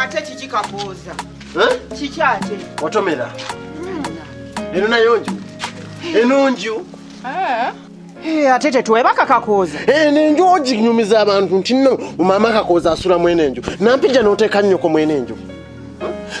ate kiki kabuuza kiki ate watomera eno nayo nju eno nju Eh, ate tetweba kakakooza eh, nenju oginyumiza abantu nti no mama kakooza asula mwene enju nampija noteeka nnyoko mwene enju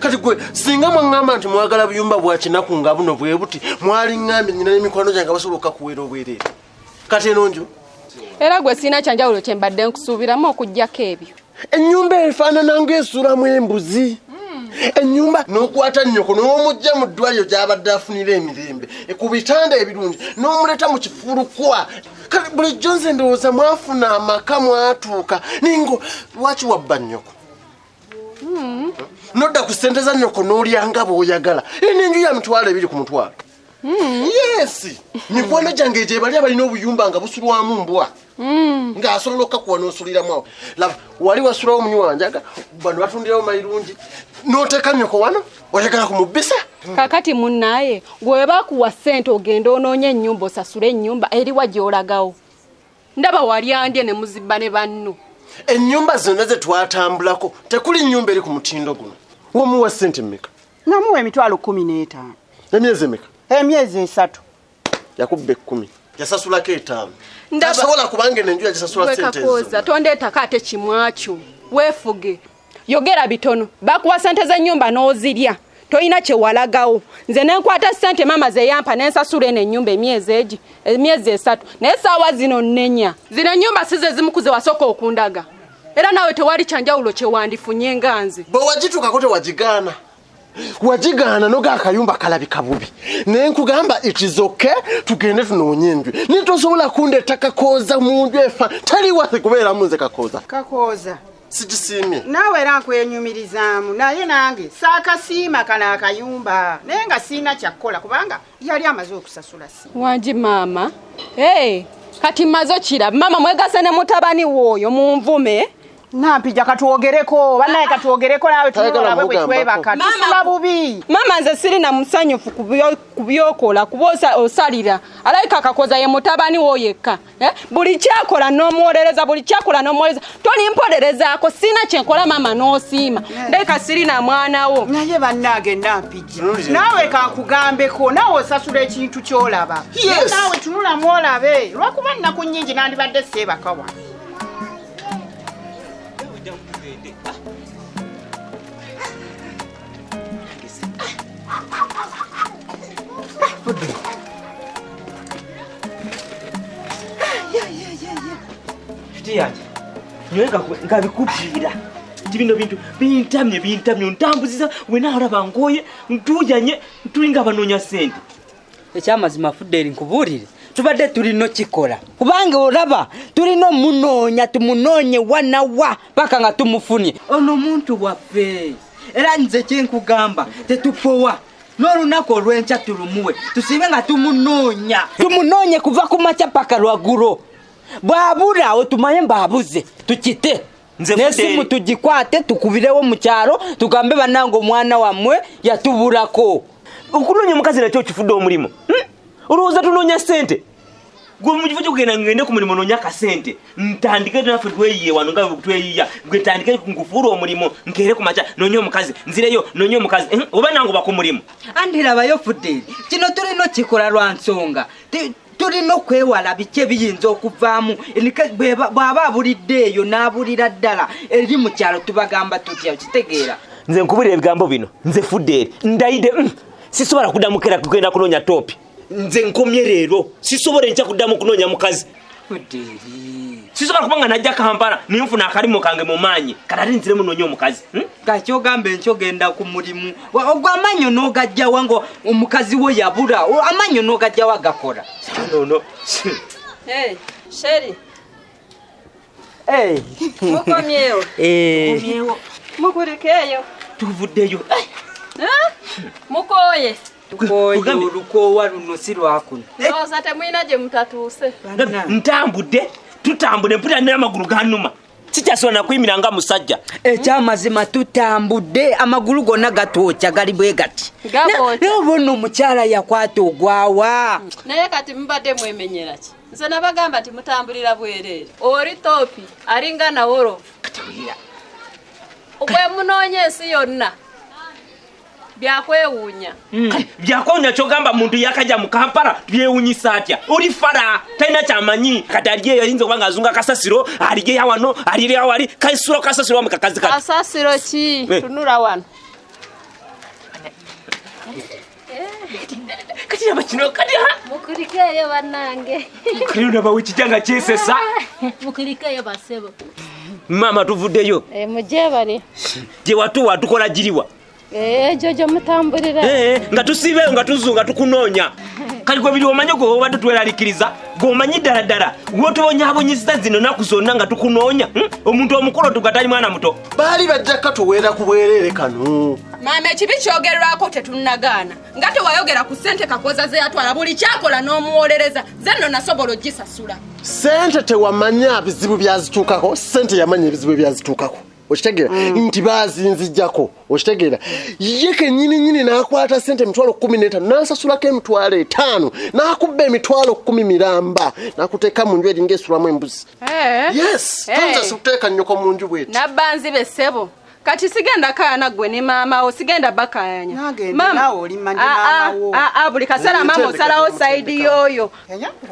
kati gwe singa mwaŋŋamba nti mwagala buyumba bwa kinaku nga buno bwe buti mwali ŋŋambye nyina n'emikwano gyange basobola okukakuweera obwereere kati eno nju era gwe sirina kyanjawulo kye mbadde nkusuubiramu okugyako ebyo ennyumba efaanana ng'esulamu embuzi ennyumba n'okwata nnyoko n'omujja mu ddwaliro gy'abadde afunira emirembe ku bitanda ebirungi n'omuleeta mu kifulukwa kale bulijjo nze ndowooza mwafuna amaka mwatuuka ningo lwaki wabba nnyoko hmm. nodda ku ssente za nnyoko n'olyanga bw'oyagala eno enju ya mitwalo ebiri ku mutwalo Hmm. yes mikwano gyange egyo ebali abalina obuyumba nga busulwamu mbwa hmm. ng'asobola okukakuwa n'osuliramu awo laba wali wasulawo omunyi wanjaga bano batundirawo mayirungi n'oteeka nyoko wano oyagala ku mubbisa hmm. kakati munnaye gwe bakuwa ssente ogenda onoonya ennyumba osasule ennyumba eriwa gy'olagawo ndaba wali andye ne muzibba ne banno ennyumba zonna ze twatambulako tekuli nnyumba eri ku mutindo guno womuwa ssente mmeka namuwa emitwalo kumi n'etaano emyezi emeka emyezi esatu yakubba ekkumi yasasulako etaano tasobola kubanga eno enju yagisasula sente ezo tondeetako ate kimwakyo weefuge yogera bitono bakuwa sente z'ennyumba n'ozirya tolina kyewalagawo nze nenkwata sente maama zeyampa nensasula eno enyumba emyezi egi emyezi esatu naye saawa zino nenya zino enyumba size zimukuze wasooka okundaga era naawe tewali kyanjawulo kyewandifunye nga nze bwe wagitukako tewagigaana wagigaana noga akayumba kalabika bubi naye nkugamba ikizoke tugende tunoonye enju naye tosobola kundeeta kakooza mu nju efa tali wasi kubeeramu nze kakooza kakooza sikisiimye naawe era nkwenyumirizaamu naye nange saakasiima kano akayumba naye nga siina kyakkola kubanga yali amaze okusasula si wangi maama hey, kati maze okira maama mwegase ne mutabani wooyo munvume nampija katwogereko banaye katwogereko nawe tuolabwe bwetwebaka tusula bubi maama nze sirina musanyufu ku byokola kuba osalira alabika akakoza ye mutabani wo yekka Eh? buli kyakola nomuwolereza buli kyakola nomuwolereza tolimpolerezaako sina kyenkola maama nosiima ndeka sirina mwana wo naye bannange nampijja naawe kankugambeko naawe osasula ekintu kyolaba naawe tunulamu olabe lwakuba nnaku nyingi nandibadde seebakawa yange nyowe nkabikubwira nti bino bintu bintamye bintamye ontambuziza wena alaba nkoye ntujanye tulinga abanoonya sente ekyamazima fudeli nkubuulire tubadde tulina okikola kubanga olaba tulina omunoonya tumunoonye wanawa paka nga tumufunye ono omuntu waffe era nze kyenkugamba tetupowa n'olunaku olw'enkya tulumuwe tusibe nga tumunoonya tumunoonye kuva ku makya paka lwagulo bwabula otumanye mbaabuze tukite Nze n'esimu Fideli. tugikwate tukubirewo mu kyalo tugambe bannange omwana wammwe yatubulako okunoonya omukazi nakyo okifudde omulimu Hmm? olowooza tunoonya ssente gwe mu kifo kyokugenda ngende ku mulimu noonya akasente ntandike naffe tweyiye wano nga tweyiya gwe ntandike nkufuula omulimu nkeere ku makya noonya omukazi nzireyo noonya omukazi Hmm? oba nange oba ku mulimu andi labayo fudeli kino tulina okikola lwa nsonga Ti- tulina okwewala biki ebiyinza okuvaamu bw'aba abulidde eyo n'abulira ddala eri mu kyalo tubagamba tutya okitegeera nze nkubulira ebigambo bino nze fudde eri ndayide mm, sisobola kuddamu kera kugenda kunoonya toopi nze nkomye leero sisobola enkya kuddamu kunoonya mukazi fudde eri sisobola kuba nga najja kampala nenfuna akalimu kange mu maanyi kati ate nziremu noonya omukazi hmm? kati ogamba enkyo genda ku mulimu ogwo amanyo nogajjawa nga omukazi wo yabula amanyo nogajjawa gakola nono sheri mukomyewo mukulikeeyo tuvuddeyo mukoye olukoowa luno si lwakuno ndowooza temulina gye mutatuuse ntambudde tutambule mpulira naye amagulu ganuma sikyasobola nakuyimira nga musajja ekyamazima tutambudde amagulu gonna gatwokya gali bwe gati naye oba ono omukyala yakwata ogwawa naye kati mubadde mwemenyeraki nze nabagamba nti mutambulira bwereere oli topi alinga nawolovu bwemunoonya ensi yonna byakwewuunya hmm. byakwewuunya kyogamba muntu yakaja mu kampala byewunyisa atya oli fara talina kyamanyi kati aliyo yayinza okuba nga azunga kasasiro aliyo yawano aliyo yawali kaisuro kasasiro wamu kakazi kati kasasiro ki eh. tunula wano kati laba kino kati ha mukulikeeyo bannange kati olaba wekijanga kyesesa mukulikeeyo basebo maama tuvuddeyo eh, mujebale gyewatuwa tukola giriwa Eh, ekyo gye mutambulira eh, eh, nga tusiibeeyo nga tuzu nga tukunoonya kati gwe biri omanye gwe obadde tweralikiriza gweomanyi ddala ddala gwotubonyabonyeza zino naku zonna nga tukunoonya hmm? omuntu omukulu tugatali mwana muto baali bajja katuweera ku bwereere kano maama ekibi kyogerwako tetunagaana nga tewayogera ku sente kakoza zeyatwala buli kyakola n'omuwolereza ze nno nasobola ogisasula sente tewamanya bizibu byazituukako sente yamanya ebizibu ebyazituukako okitegeera mm. nti bazinzijako okitegeera ye kenyini nyini nakwata sente emitwalo kumi netaano nansasulako emitwalo etaano nakubba emitwalo kumi miramba nakuteeka mu nju eringa esulamu embuzi eh. yes eh. toyinza sikuteeka nyoko mu nju bweti nabbanzi be ssebo kati sigenda kaana gwe ne maama wo sigenda bakayanya ah, ah, ah, buli kaseera maama osalawo saidi yoyo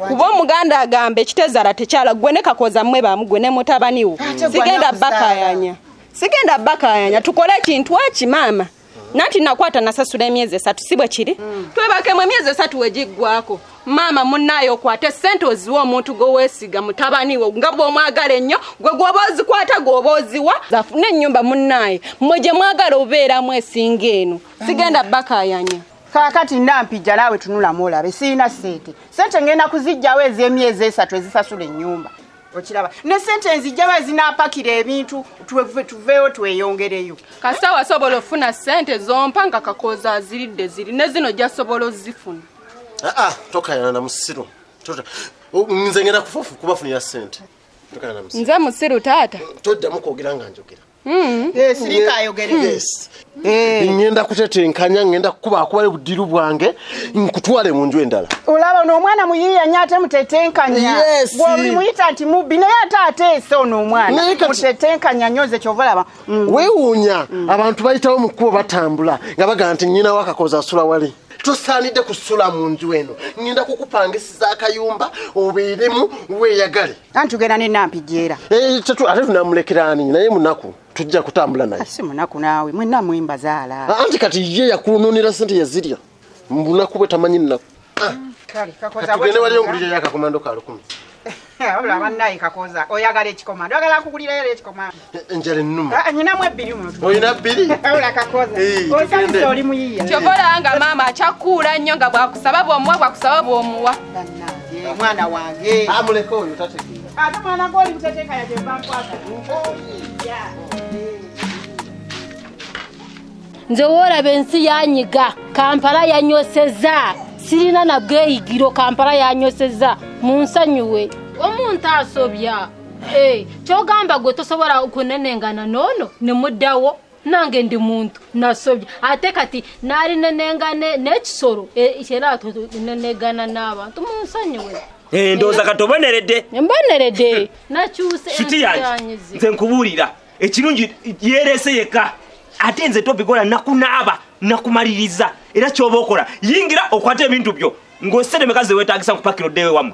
kuba omuganda agamba ekitezaala tekyala gwe ne kakooza mmwe baamu gwe ne mutabaniwo sigenda bakayanya sigenda bakayanya tukole ekintu eki maama nanti nakwata nasasula emyezi esatu si bwe kiri mm. twebakemu emyezi esatu wegiggwako maama munaayo okwate sente oziwa omuntu gwewesiga mutabaniwo nga bwomwagala ennyo gwe gwoba ozikwata gwoba oziwa zafuna ennyumba munaaye mwe gye mwagala obeeramu esinga eno sigenda bakayanya kakati nampijja naawe tunulamu olabe sirina sente sente ngenda kuzijjawo ez'emyezi esatu ezisasula ennyumba okiraba ne sente nzijjawo ezinapakira ebintu tuveewo tweyongereyo kasita wasobola ofuna sente zompa nga kakooza aziridde ziri ne zino jasobola ozifuna aa ah, ah, tokayana na musiru nze ngenda kubafunira sente nze musiru taata toddamu kwogera nga njogera Hmm. Eh, sirika ayogere hmm. yes eh. ngenda kutetenkanya ngenda kukuba akubayo budiru bwange nkutwale mu nju endala olaba ono omwana muyiiya nyo ate mutetenkanya gweoli muyita nti mubbi naye ate ateese ono omwana mutetenkanya nyo nze kyova olaba hmm. wewuunya abantu bayitawo mu kkubo batambula nga bagamba nti nyina wakakoza asula wali tosaanidde kusula mu nju eno ngenda kukupangisiza akayumba obeeremu weeyagale anti tugenda ne nampijja era Eh, tetu- ate tunamulekera ani naye munaku tujja kutambula naye si munaku naawe mwenna mwembazaala Ah, anti kati ye yakunonera sente yazirya mubunaku bwe tamanyi nnaku Kale, kakoza Kati tugende wali bwetyo. ongulire yakakomando ka lukumi wabula bannaye kakoza oyagala ekikomando oyagala nkugulireyo era ekikomando enjala ennuma ah, nyinamu ebbiri olina bbiri osanise oli muyiya kyova olaba nga maama akyakuula nnyo nga bwakusaba bwomuwa bwakusaba bwomuwa mwana wange amuleka ah, oyo tategeera ate mwana goli buteteeka yajebankwata nze woolaba ensi yanyiga kampala yanyoseza sirina nabweyigiro kampala yanyoseza munsanyuwe omuntu asobya Eh, kyogamba gwe tosobola kunenengana noono nemuddawo nange ndi muntu nasobye ate kati naali nenengane n'ekisolo eh, era nenegana n'abantu munsonyiwe eh, ndowooza kati oboneredde mboneredde nakyuse shuti yange nze nkubuulira ekirungi yereese yekka ate nze tobikola nakunaaba nakumaliriza era kyoba okola yingira okwata ebintu byo ng'oseremeka ze weetagisa nkupakira oddeewo ewamu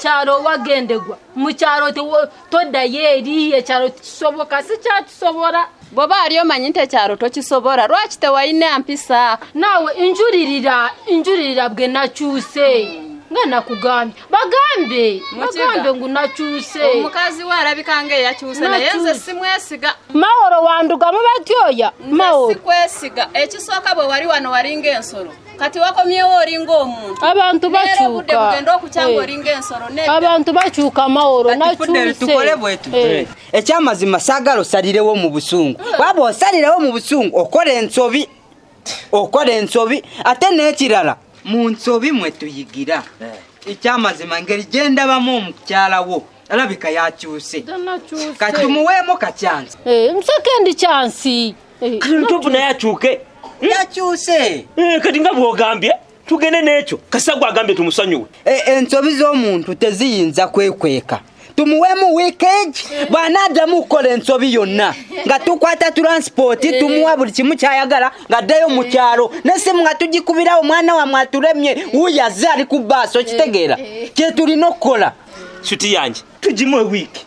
kyalo wagendegwa mu kyalo toddayo eri ekyalo kisoboka si kyatusobola bwoba ali omanyi nti ekyalo tokisobola lwaki tewalina mpisa naawe njulirira njulirira bwe nakyuse nga nakugambye bagambe bagambe ngu nakyuse omukazi we alabika nga eyakyuse naye nze simwesiga mawolo wandugamu batyoya mawolo sikwesiga ekisooka bwe wali wano walinga ensolo kati wakomyewo olinga omuntu abantu bakyukabantu bakyuka amaworo eh. ekyamazima sagala osalirewo mu busungu eh. waba osalirewo mu busungu okola ensobi okola ensobi ate n'ekirala mu nsobi mwe tuyigira eh. ekyamazima ngeri gyendabamu omukyalawo alabika yakyuse kati tumuweemu kakyansi musekendi kyansi Eh, kati lutovu naye akyuke hmm? yakyuse eh, kati nga bwogambye tugende n'ekyo kasagwa agambye tumusonyiwe eh, ensobi z'omuntu teziyinza kwekweka tumuwemu weekage bwanaddamu okukola ensobi yonna nga tukwata turansipooti eh. tumuwa buli kimu kyayagala ng'addayo mu kyalo eh. nesimu nga tugikubirawo omwana wamwe aturemye wuyo azze ali ku baasi okitegeera eh. kyetulina okukola suti yange tugimu ewiiki